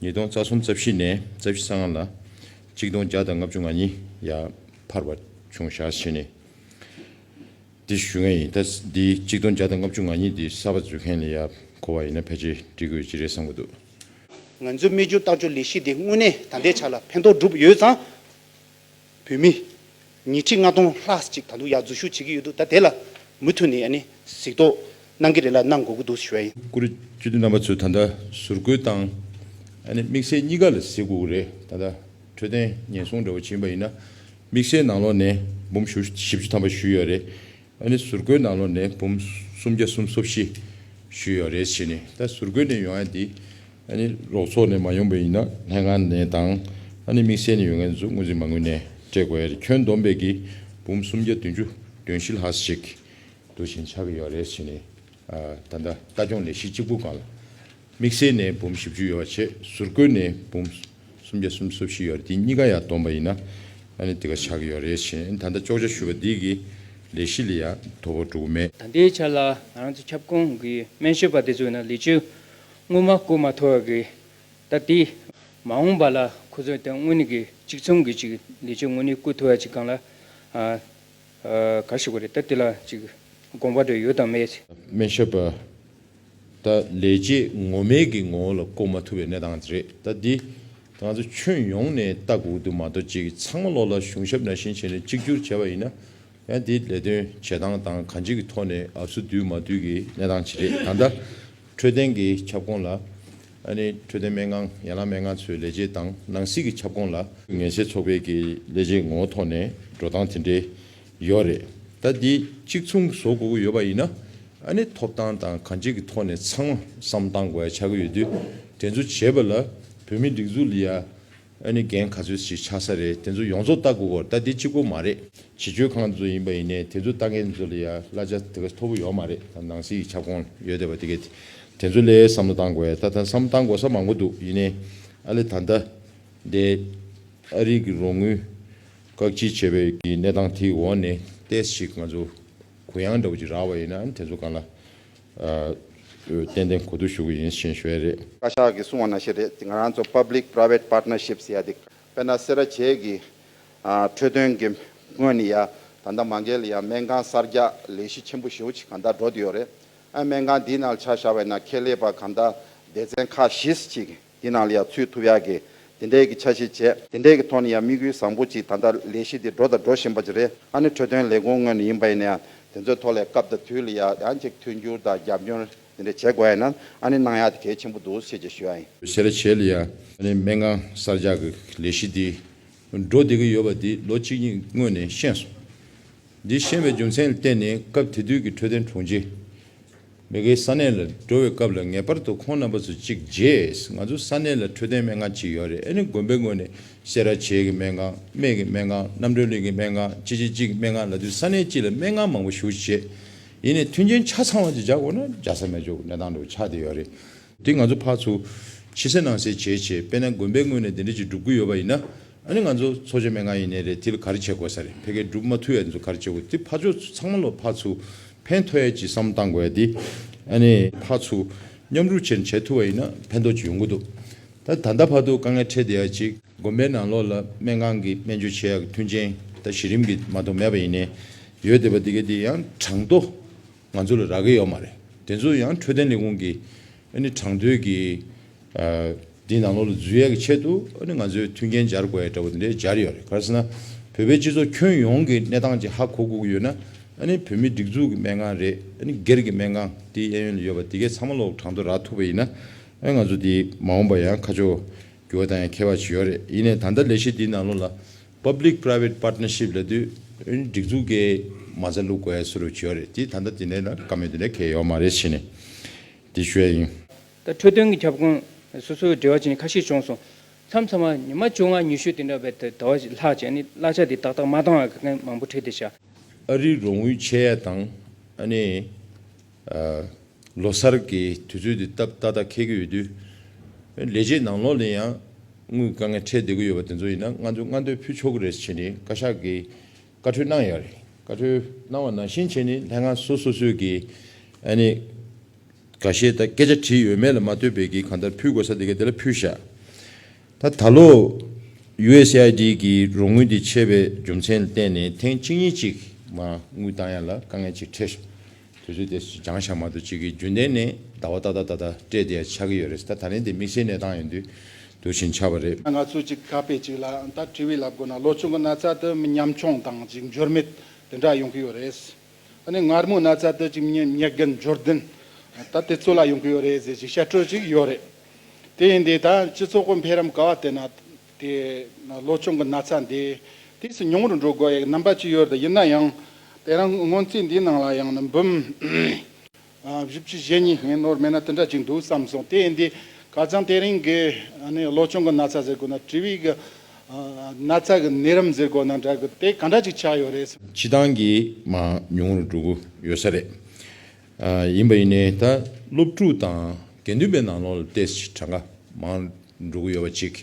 ཉིས་སྟོང་རྩ་གསུམ་རྩ་བཞི་ནས་རྩ་བཞི་ས་ལྔ་ལ། གཅིག་སྟོང་བརྒྱ་དང་ལྔ་བཅུ་ང་གཉིས་ཡར་འཕར་བ་བྱུང་ཞག་བཞི་ནས། འདི་ཞུ་མཁན་ཡིན་ད་འདི་གཅིག་སྟོང་བརྒྱ་དང་ལྔ་བཅུ་ང་གཉིས་འདི་གསར་པ་འཛུལ་མཁན་ལས་ཡར་གོ་བ་ཡིན་ན་ཕལ་ཆེར་འབྲི་དགོས་ཅི་རེད་བསམ་གྱི་འདུག། ང་ཚོའི་སྨྲས་སྦྱོར་ལྟ་སྦྱོར་ལས་གཞི་འདི་དངོས་གནས་ད་ལྟའི་ཆ་ལ་ཕན་ཐོགས་འགྲུབ་ཡོད་ཙང། བོད་མི། ཉིས་ཁྲི་ལྔ་སྟོང་ལྷག་ཅིག་ད་དུང་ཡར་འཛུལ་ཞུགས་བྱེད་ཀྱི་ཡོད་འདུག་ད་དེ་ལ་མུ་མཐུད་ནས་ཡ་ནི་གཟིགས་རྟོག་གནང་གི་རེད་ལ་གནང་དགོས་ཀྱི་འདུག་ཞུ་བ་ཡིན། བཀུར་འོས་སྤྱི་འཐུས་རྣམ་པ་ཚོས་ད་ལྟ་ཟུར་བཀོལ་བཏང། ཡ་ནི་དམིགས་བསལ་གཉིས་ཀ་ལ་གཟིགས་དགོས་ཀྱི་རེད་ད་ལྟ་འཕྲོད་བསྟེན་ཉེན་སྲུང་འདྲ་བོ་བྱིན་པ་ཡིན་ན་དམིགས་བསལ་ནང་ལོགས་ནས་འབུམ་བཞི་བཅུ་ཐམ་པ་ཞུས་ཡོད་རེད་ཡ་ནི་ཟུར་བཀོལ་ནང་ལོགས་ནས་འབུམ་སུམ་བརྒྱ་གསུམ་སོ་བཞི་ཞུས་ཡོད་རེད་བྱས་ནས་ད་ཟུར་བཀོལ་ནས་ཡོང་ཡ་འདི་རོགས་ཚོགས་ནས་མ་ཡོང་པས་ཡིན་ན་ལྷན་ཁང་ནས་དང་དམིགས་བསལ་ནས་ཡོད་མཁན་ཚོས་དངུལ་རྩིས་མ་དངུལ་ནས་སྤྲད་དགོས་ཡ་རེད་ཁྱོན་བསྡོམས་པས་ཀྱི་འབུམ་སུམ་བརྒྱ་བདུན་ཅུ་དོན་བཞི་ལྷག་ཞིག་དུ་བཞིན་ཆགས་ཀྱི་ཡོད་རེད་ཞེས་ནས་ད་ལྟ་ལྟ་སྐྱོང་ལས་གཞི་གཅིག་པུ་གང་ལ་དམིགས་བསལ་ནས་འབུམ་བཞི་བཅུ་ཡོད་པ་ཆེད་ཟུར་བཀོལ་ནས་འབུམ་སུམ་བརྒྱ་སུམ་ཅུ་བཞི་ཡོད་རེད་དེ་གཉིས་ཀ་ཡང་བསྡོམས་པ་ཡིན་ན་དེ་ག་ཆགས་ཀྱི་ཡོད་རེད་ཞེས་ད་ལྟ་ཅོག་ཅར་ཞུས་པ་འདིས་ཀྱི་ལས་གཞི་ལ་ཡང་དོ་ཕོག་འགྲོ་གི་མེད། ད་ལྟའི་ཆར་ལ་ང་རང་ཚོ་ཁྱབ་ཁོངས་ཀྱི་སྨན་ཞབས་པ་དེ་ཚོས་ནི་ལི་ཆུ་སྔོན་མ་བསྐུར་མ་ཐུབ་པ་གིས་ད་དེ། མ་འོངས་པ་ལ་ཁོ་ཚོས་དེ་དངོས་གནས་ཀྱི་གཅིག་མཚུངས་ཀྱི་ཅིག་ལས་ཆོས་དངོས་གནས་བསྐུར་ཐུབ་པ་ཅིག་གང་ལ་ག་ཞིག་གོ་རེད་ད་དེ་ལ་ཅིག་དགོངས་པ་དེ་ཡོད་དམ་མེད། སྨན་ཞབས་པ། ད་ལས་ཆས་ངོ་མེད་ཀྱི་ངོ་བོ་ལ་བསྐུར་མ་ཐུབ་པའི་གནས་སྟངས་རེད་ད་དེ། ང་ཚོ་ཁྱོན་ཡོངས་ནས་ལྟ་དགོས་དུ་མ་གཏོགས་ཅིག་ཚང་མ་བློ་ལ་གཞུང་ཞབས་ན་བཞིན་བྱས་ནས་གཅིག་གྱུར་བྱས་པ་ཡིན་ན་ཡང་དེའི་ལས་དོན་བྱེད་སྟངས་དང་གང་ཅི་གི་ཐོག་ནས་ཨབ་སུ་དུལ་མ་དུལ་གྱི་གནས་སྟངས་ཇི་རེད་ད་ལྟ་འཕྲོད་བསྟེན་གྱི་ཁྱབ་ཁོངས་ལ། འཕྲོད་བསྟེན་སྨན་ཁང་ཡན་ལག་སྨན་ཁང་ཚོའི་ལས་བྱེད་དང་ནང་སྲིད་ཀྱི་ཁྱབ་ཁོངས་ལ། ངལ་སེལ་ཚོགས་པའི་ཀྱི་ལས་བྱེད་ངོ་བོ་ཐོག་ནས་འགྲོ་སྟངས་དེ་འདྲའི་ཡོད་རེད་ད། དེ་གཅིག་མཚུངས་བཟོ་དགོས་ཀྱི་ཡོད་པ་ཡིན་ན། ཐོབ་ཐང་དང་གང་ཅི་གི་ཐོག་ནས་ཚང་མ་བསམ་བཏང་དགོས་ཡ་ཆགས་ཀྱི་ཡོད་དུས་དེ་ཚོ་བྱེད་པ་ལ་བོད་མི་སྒྲིག་འཛུགས་ལ་ཡ། ཨ་ནི་འགན་ག་ཚོད་ཞིག་ཆགས་ས་རེད་དེ་ཚོ་ཡོངས་རྫོགས་ལྟ་དགོས་སྐོར་ལྟ་དེ་གཅིག་པོ་མ་རེད་བྱེས་སྤྱོད་ཁང་དེ་ཚོ་ཡིན་པ་ཡིན་ནའི་དེ་ཚོ་ལྟ་མཁན་དེ་ཚོ་ལ་ཡ་བླ་ཆ་དེ་ག་མཐོ་པོ་ཡོད་མ་རེད་ད་ནང་སྲིད་ཀྱི་ཁྱབ་ཁོངས་ཡོད་བསྡད་པ་དེ་གས་དེ་ཚོ་ལས་བསམ་བློ་བཏང་དགོས་ད་ད་བསམ་བཏང་དགོས་ས་མང་པོ་འདུག་ཡིན་ནའི་ཨ་ལས་ད་ལྟ་འདས་ཨ་རིག་གི་རོགས་དངུལ་བཀག་སྐྱིལ་བྱས་པའི་གི་གནས་སྟངས་དེ་ཡི་འོག་ནས་ལྟས་ཤིག་ང་ཚོ་གུ་ཡངས་འདྲ་བོ་ཅིག་རག་པ་ཡིན་ན་ཨ་ནི་དེ་ཚོ་གང་ལ་ཏན་ཏན་གོ་བསྡུར་ཞུ་གི་ཡིན་ཞེས་བཤད་རེད། བཀའ་ཤག་གིས་གསུང་བ་ན་ཤེས་རེད་དེ་ང་རང་ཚོ Public Private Partnership ཟེར་ཡ་དེ། དཔེར་ན་སེ་ར་བྱེས་ཀྱི་འཕྲོད་བསྟེན་གྱི་སྔོན་ནི་ཡ་ད་ལྟ་མ་འགལ་ཡ་སྨན་ཁང་གསར་རྒྱག་ལས་གཞི་ཆེན་པོ་བཞི་བོ་ཆེ་གང་དག་འགྲོ་དུས་ཡོད་རེད་ཨ་སྨན་ཁང་འདིའི་ནང་ཆ་བཞག་པའི་ནང་ཁེ་ལས་པ་གང་དག་སྡེ་ཚན་ཁག་བཞི་ཞིག་དེ་ནང་ལ་ཡང་ཚུད་ཐུབ་ཡག་གི། དེ་འདྲའི་གི་ཆ་ཤས་བྱས། དེ་འདྲའི་གི་ཐོག་ནས་ཡང་དམིགས་ཡུལ་བཟང་པོ་ཅིག་ད་ལྟ་ལས་གཞི་དེ་འགྲོ་དང་འགྲོ་བཞིན་པ་ཅིག་རེད། ཨ་ནི་འཕྲོས་དོན་ལས་ཁུངས་ངོས་ནས་ཡིན་པ་ཡིན་ན་ཡང་དེ་ཚོའི་ཐོག་ལས་སྐབས་དང་དུས་ལ་ཡང་ཡང་ཅིག་མཐུན་འགྱུར་དང་རྒྱབ་སྐྱོར་དེ་འདྲ་བྱེད་དགོས་ཡ་ན་ཨ་ནི་གནང་ཡག་དེ་གལ་ཆེན་པོ་འདུག་ཤེས་ཀྱི་ཞུ་ཡག་ཡིན། བྱས་ར་བྱས་ལ་ཡང་ཨ་ནི་མན་ངག་གསར་རྒྱག་གི་ལས་གཞི་དེ་འགྲོ་བསྡད་ཀྱི་ཡོད་པ་དེ་ལོ་གཅིག་གཉིས་སྔོན་ནས་ཤེས་སོང། འདི་ཤེས་པའི་རྒྱུ་མཚན་ལ་བརྟེན་ནས་སྐབས་དེ་དུས་ཀྱི་འཕྲོས་དོན་དྲུང་ཆེ། མི་དགེའི་ས་གནས་ལ་འགྲོ་བའི་སྐབས་ལ་ངེས་པར་དུ་ཁོང་རྣམ་པ་ཚོ་གཅིག་རྗེས་ང་ཚོ་ས་གནས་ལ་འཕྲོད་བསྟེན་སྨན་ཁང་གཅིག་ཡོད་རེད་ཨེ་ནི་དགོན་པའི་ངོས་ནས་སེ་ར་བྱེས་ཀྱི་སྨན་ཁང་སྨད་ཀྱི་སྨན་ཁང་རྣམ་གྲོལ་གླིང་གི་སྨན་ཁང་ཅི་ཅི་གཅིག་སྨན་ཁང་ལ་དུས་ས་གནས་གཅིག་ལ་སྨན་ཁང་མང་པོ་བཞུགས་བྱེད་ཡིན་ནས་མཐུན་རྐྱེན་ཆ་ཚང་བ་གཅིག་བྱ་དགོས་ན་འཇགས་ས་མེད་ཆོག་གི་གནས་སྟངས་འགྲོ་ཆགས་དེ་ཡོད་རེད་དེ་ང་ཚོ་ཕར་ཚུར་ཕྱི་གསལ་ནང་གསལ་བྱས་བྱས་དཔེ་ན་དགོན་པའི་ངོས་ནས་དེ་འདྲ་ཅིག་སྒྲུབ་དགོས་ཡོད་པ་ཡིན་ན་ཨ་ནི་ང་ཚོ་འཚོ་བྱ་མན་ངག་ཡིན་ནའི་རེད་དེ་ལ་ག་རེ་བྱེད་དགོས་ས་རེད་ཕལ་སྐད་སྒྲུབ་མ་ཐུ་ཡ་ཚོ་ག་རེ་བྱེད་དགོས་དེ་ཕར་ཕྱོགས་ཚོ་ཚང་མ་ལོ་ཕར་ཚུར་ཕན་ཐོ་ཡ་ཅིག་བསམ་བློ་བཏང་དགོས་ཡ་དེ་ཨ་ནི་ཕར་ཚུར་མཉམ་རུབ་བྱེད་བྱེད་ཐུ་བ་ཡིན་ན་ཕན་ཐོ་ཅིག་ཡོང་གི་འདུག་ད་ད་ལྟ་བར་དུ་དཀའ་ངལ་འཕྲད་བསྡད་ཡ་ཅིག་དགོན་པའི་ནང་ལོགས་ལ་སྨན་ཁང་གི་སྨན་བཅོས་བྱེད་ཡ་གི་མཐུན་རྐྱེན་ད་གཞི་རིམ་གྱི་མ་གཏོགས་མེད་པ་ཡིན་ནའི་ཡོད་བསྡད་པ་དེ་ག་དེ་ཡང་གྲང་དོ། ང་ཚོ་ལ་རག་གི་ཡོད་མ་རེད། དེ་ཚོ་ཡང་འཕྲོད་བསྟེན་ལས་ཁུངས་ཀྱི་གྲངས་མཐོའི་གི་དེ་ནང་ལོགས་ལ་འཛུལ་ཡས་ཀྱི་ཆེད་དུ་ང་ཚོའི་མཐུན་རྐྱེན་སྦྱར་དགོས་ཡས་འདྲ་བོ་དེ་འདྲས་སྦྱར་ཡོད་རེད་ག་ཟེ་ན་བོད་པའི་སྤྱི་ཚོགས་ཁྱོན་ཡོངས་ཀྱི་གནས་སྟངས་ཀྱི་ཧ་གོ་གུག་ཡོད་ན་བོད་མི་སྒྲིག་འཛུགས་ཀྱི་སྨན་ཁང་རེད་སྒེར་གྱི་སྨན་ཁང་དེའི་གཡས་གཡོན་ལ་ཡོད་པ་དེ་གས་ཚང་མ་ལོགས་གྲངས་ཐོ་རག་ཐུབ་པ་ཡིན་ན་ང་ཚོ་དེ་མ་འོངས་པ་ཡང་ཁ་ཕྱོགས་རྒྱུ་བ་དང་ཡང་ཁེ་བ་ཇི་ཡོད་རེད་ཡིན་ནས་ད་ལྟ་ལས་གཞི་དེ་ནང་ལོགས་ལ Public Private Partnership ལས་དུས་ཡུན་སྒྲིག་འཛུགས་ཀྱི་མ་རྩ་ལུགས་བཀལ་སུ་རུབ་བྱས་ཡོད་རེད་དེ་ད་ལྟ་དེ་འདྲའི་ལ་ཀ་མེད་དེ་འདྲའི་གལ་ཡོད་མ་རེད་བྱས་ནས་དེ་ཞུ་ཡ་ཡིན། ད་འཕྲོས་དོན་གྱི་ཁྱབ་ཁོངས་སོ་སོའི་འབྲེལ་བ་བྱས་ནས་ཁ་ཤས་བྱུང་སོང། མཚམས་མཚམས་མ་ཉི་མ་བཅོ་ལྔ་ཉི་ཤུ་དེ་འདྲ་བའི་ད་བར་ལྷག་བྱས་ནས་གླ་ཆ་དེ་ཏག་ཏག་མ་བཏང་བར་དགེ་རྒན་མང་པོ་ཁྲིད་དེ་བྱ། ཨ་རིའི་རོགས་དངུལ་ཆད་ཡ་དང་ཨ་ནེ། ལོ་གསར་གྱི་དུས་ཚོད་འདི་སྟབས་ཏག་ཏག་འཁེལ་གྱི་ཡོད་དུས། ལས་བྱེད་ནང་ལོགས་ལས་ཡང་དངུལ་དཀའ་ངལ་འཕྲད་བསྡད་ཀྱི་ཡོད་པ་དེ་ཚོ་ཡིན་ན་ང་ཚོས་སྔ་འདོན་ཕུལ་ཆོག་གི་རེད་བྱས་ནས་བཀའ་ཤག་གིས་བཀའ་འཁྲོལ་གནང་ཡག་རེད། བཀའ་འཁྲོལ་གནང་བ་ནང་བཞིན་བྱས་ནས་ལྷན་ཁང་སོ་སོ་སོས་ཀྱིས་ཨནི་ག་ཤེད་ད་སྐད་ཆ་བྲིས་ཡོད་མེད་ལ་མ་ལྟོས་པའི་གིས་གང་ལྟར་ཕུལ་དགོས་ས་དེ་ག་དེ་ལ་ཕུལ་བཞག་ད་ད་ལོ། USAID། ཀྱི་རོགས་དངུལ་དེ་ཆད་པའི་རྒྱུ་མཚན་ལ་བརྟེན་ནས་ཐེངས་གཅིག་གཉིས་གཅིག་མ་དངུལ་བཏང་ཡག་ལ་དཀའ་ངལ་ཅིག་འཕྲད་བྱུང། དུས་ཚོད་དེ་འགྱངས་ཞག་མ་ཏོག་ཅིག་གིས་རྒྱུན་ལྡན་ནས་ཟླ་བ་ཏག་ཏག་ད་ལྟ་སྤྲད་དེ་ཡང་ཆགས་ཀྱི་ཡོད་རེད་ད་ད་ལན་དེ་དམིགས་བསལ་གནས་སྟངས་ཡིན་དུས་དུས་བཞིན་ཆགས་པ་རེད། ང་ཚོས་ཅིག་ག་པེ་ཅིག་ལ་ད་བཀྲིས་བྷི་ལབ་དགོས་ན་ལོ་ཆུང་གི་ན་ཚ་དེ་མི་ཉམ་ཆུང་དང་ཅིག་འགྱུར་མེད་དེ་འདྲ་ཡོང་གི་ཡོད་རེད། ནས་མངར་མོ་ན་ཚ་དུས་ཀྱི་ཉེས་དགེ་འབྱོར་ལྡན་དག་དེ་ཚོ་ལ་ཡོང་གི་ཡོད་རེད་ཟེར་གྱི་བཤད་སྤྲོད་ཅིག་ཡོད་རེད། དེ་ཡིན་དུས་ད་སྤྱི་ཚོགས་ཀྱི་འཕེལ་རིམ་ག་བ་ལྟས་ན་དེ་ལོ་ཆུང་གི་ན་ཚ་འདི་དུས་སུ་ཉུང་རུ་འགྲོ་དགོས་ཡག་རྣམ་པ་ཅིག་ཡོད་རེད་ཡིན་ན་ཡང་དེ་རིང་སྔོན་རྩིས་འདིའི་ནང་ལ་ཡང་ནི་འབུམ་བཞི་བཅུ་ཞེ་གཉིས་ངས་ནོར་མེད་ན་དེ་འདྲ་ཅིག་འདུག་བསམ་སོང་དེ་ཡིན་དུས་ག་ཙང་དེ་རིང་གི་བློ་ཆུང་གི་ན་ཚ་ཟེར་དགོས་ན་དྲི་བའི་གི་ན་ཚ་གི་ནད་རིམས་ཟེར་དགོས་ན་འདྲ་གི་དེ་ག་འདྲ་ཅིག་ཆགས་ཡོད་རེད། ཕྱི་ཐང་གི་མང་ཉུང་རུ་འགྲོ་གི་ཡོད་ས་རེད། ཡིན་པ་ཡིན་ནའི་ད་སློབ་ཕྲུག་དང་དགེ་འདུན་པའི་ནང་ལོག་ལ་ཏེ་སི་གྲངས་ཀ་མང་འགྲོ་གི་ཡོད་པ་ཅིག་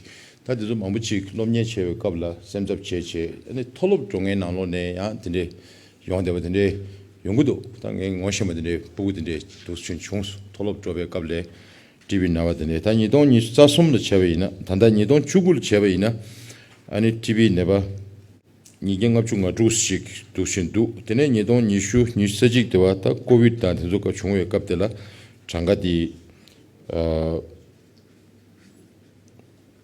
ད་དེ་ཚོ་མང་པོ་ཅིག་སློབ་གཉེར་བྱེད་པའི་སྐབས་ལ་སེམས་འཚབ་བྱེད་བྱེད་ཨ་ནི་མཐོ་སློབ་འགྲོ་མཁན་ནང་ལོག་ནས་ཡང་དེ་འདྲའི་ཡོང་བདེ་བ་དེ་འདྲའི་ཡོང་གི་འདུག་ད་ངས་ངོ་ཤེས་མ་དེ་འདྲའི་སྤུ་གུ་དེ་འདྲའི་དུག་ཆུན་བྱུང་སོང་མཐོ་སློབ་འགྲོ་བའི་སྐབས་ལས་བྲིས་པའི་ན་བ་དེ་འདྲའི་ད་ཉིས་སྟོང་ཉིས་རྩ་གསུམ་ལ་བྱས་པ་ཡིན་ན་ད་ལྟ་ཉིས་སྟོང་བཅུ་དགུ་ལ་བྱས་པ་ཡིན་ན་ཨ་ནི་བྲིས་པའི་ནད་པ་ཉིས་བརྒྱ་ལྔ་བཅུ་ང་དྲུག་ཞིག་འདུག་བཞིན་འདུག་དེ་ནས་ཉིས་སྟོང་ཉི་ཤུ་ཉིས་རྩ་གཅིག་དེ་བ་ད་ཀོ་བིད་དང་དེ་ཚོ་ཀ་བྱུང་བའི་སྐབས་དེ་ལ་གྲངས་ཀ་དེ།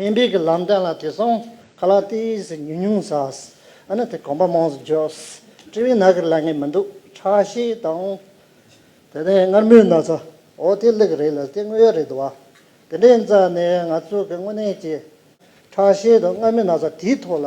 སྨན་པས་གི་ལམ་བསྟན་ལ་དེ་སོང་ག་ལ་ཏི་ཟི་ཉུང་ཉུང་ཟས་ཨ་ནི་དེ་གོམ་པ་མང་ཟི་འཇོག་ཟི་དཀྲི་བའི་ནག་གི་ལ་ངན་མི་འདུག་ཁྲག་ཤེད་དང། དེ་ནས་མངར་མོའི་ན་ཚ་འོ་དེ་ལུག་རེད་ལ་དེ་དངོས་ཡོད་རེད་དུ་བ་དེ་འདྲའི་འཛའ་ནས་ང་ཚོ་གི་དངོས་གནས་ཀྱི་ཁྲག་ཤེད་དང་མངར་མོའི་ན་ཚ་དེའི་ཐོག་ལ་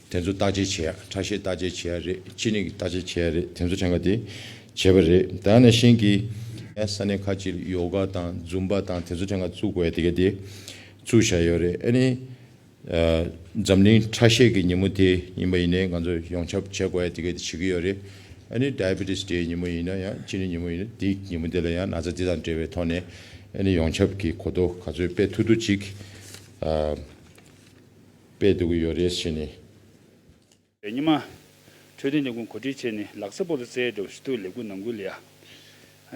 དེ་ཚོ་བརྟག་དཔྱད་བྱས་ཡ་ཁྲ་ཤེས་བརྟག་དཔྱད་བྱས་ཡ་རེད་ཅི་ནས་ཀྱི་བརྟག་དཔྱད་བྱས་ཡ་རེད་དེ་ཚོ་ཆང་ག་དེ་བྱས་པ་རེད་ད་ནས་ཤེན་གྱི་ས་གནས་ཁ་ཅིག་ལ་ཡོ་ག་དང་རྫུམ་པ་དང་དེ་ཚོ་ཆང་ག་བཙུགས་དགོས་ཡ་དེ་ག་དེ་བཙུགས་བཞག་ཡོད་རེད་ཨ་ནི་འཛམ་གླིང་ཁྲ་ཤེས་ཀྱི་ཉིན་མོ་དེ་ཡིན་པ་ཡིན་ནས་ང་ཚོ་ཡོངས་ཁྱབ་བྱས་དགོས་ཡ་དེ་ག་དེ་བྱེད་ཀྱི་ཡོད་རེད་ཨ་ནི Diabetes Day ཉིན་མོ་ཡིན་ན་ཡང་ཅི་ནས་ཉིན་མོ་ཡིན་ན་དེ་ཉིན་མོ་དེ་ལ་ཡང་ན་ཚ་དེ་དང་འབྲེལ་བའི་ཐོག་ནས་ཨ་ནི་ཡོངས་ཁྱབ་ཀྱི་གོ་རྟོགས་ག་ཚོད་སྤེལ་ཐུབ་ཐུབ་ཅིག་ཨ། པས་འདུག་གི་ཡོད་རེད་བྱས་ནས། ཉི་མ། འཕྲོད་བསྟེན་ལས་ཁུངས་གོ་སྒྲིག་བྱས་ནས་ལག་ས་པོ་ལ་བཙལ་འགྲོ་བའི་ཞུ་གཏུག་ལས་འགུལ་ནང་འགུལ་ཡ།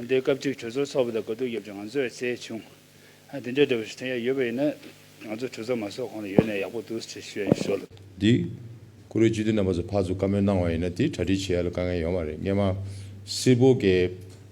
འདིར་སྐབས་གཅིག་གྲོས་ཚོགས་ཚོགས་པ་དང་དགའ་སྡུག་ཡབ་ཀྱི་ང་ཚོས་བཙལ་བྱུང། འདི་འདྲའི་འདྲ་བའི་ཞུ་དོན་ཡ་ཡོད་པ་ཡིན་ན། ང་ཚོ་གྲོས་ཚོགས་མ་ཚོགས་གོང་ལ་ཡོད་ན་ཡག་པོ་འདུག་ཅེས་ཞུ་ཡ་ཡིན་ཞོར་དུ། འདི། ཀུ་རེ་སྤྱི་འཐུས་རྣམ་པ་ཚོ་ཕར་ཚུར་བཀའ་མོལ་གནང་བ་ཡིན་ན་དེ་གྲ་སྒྲིག་བྱེད་ཡ་ལ་དཀའ་ངལ་ཡོང་བ་རེད་སྙེ་མ། སིལ་བོ་དགེ།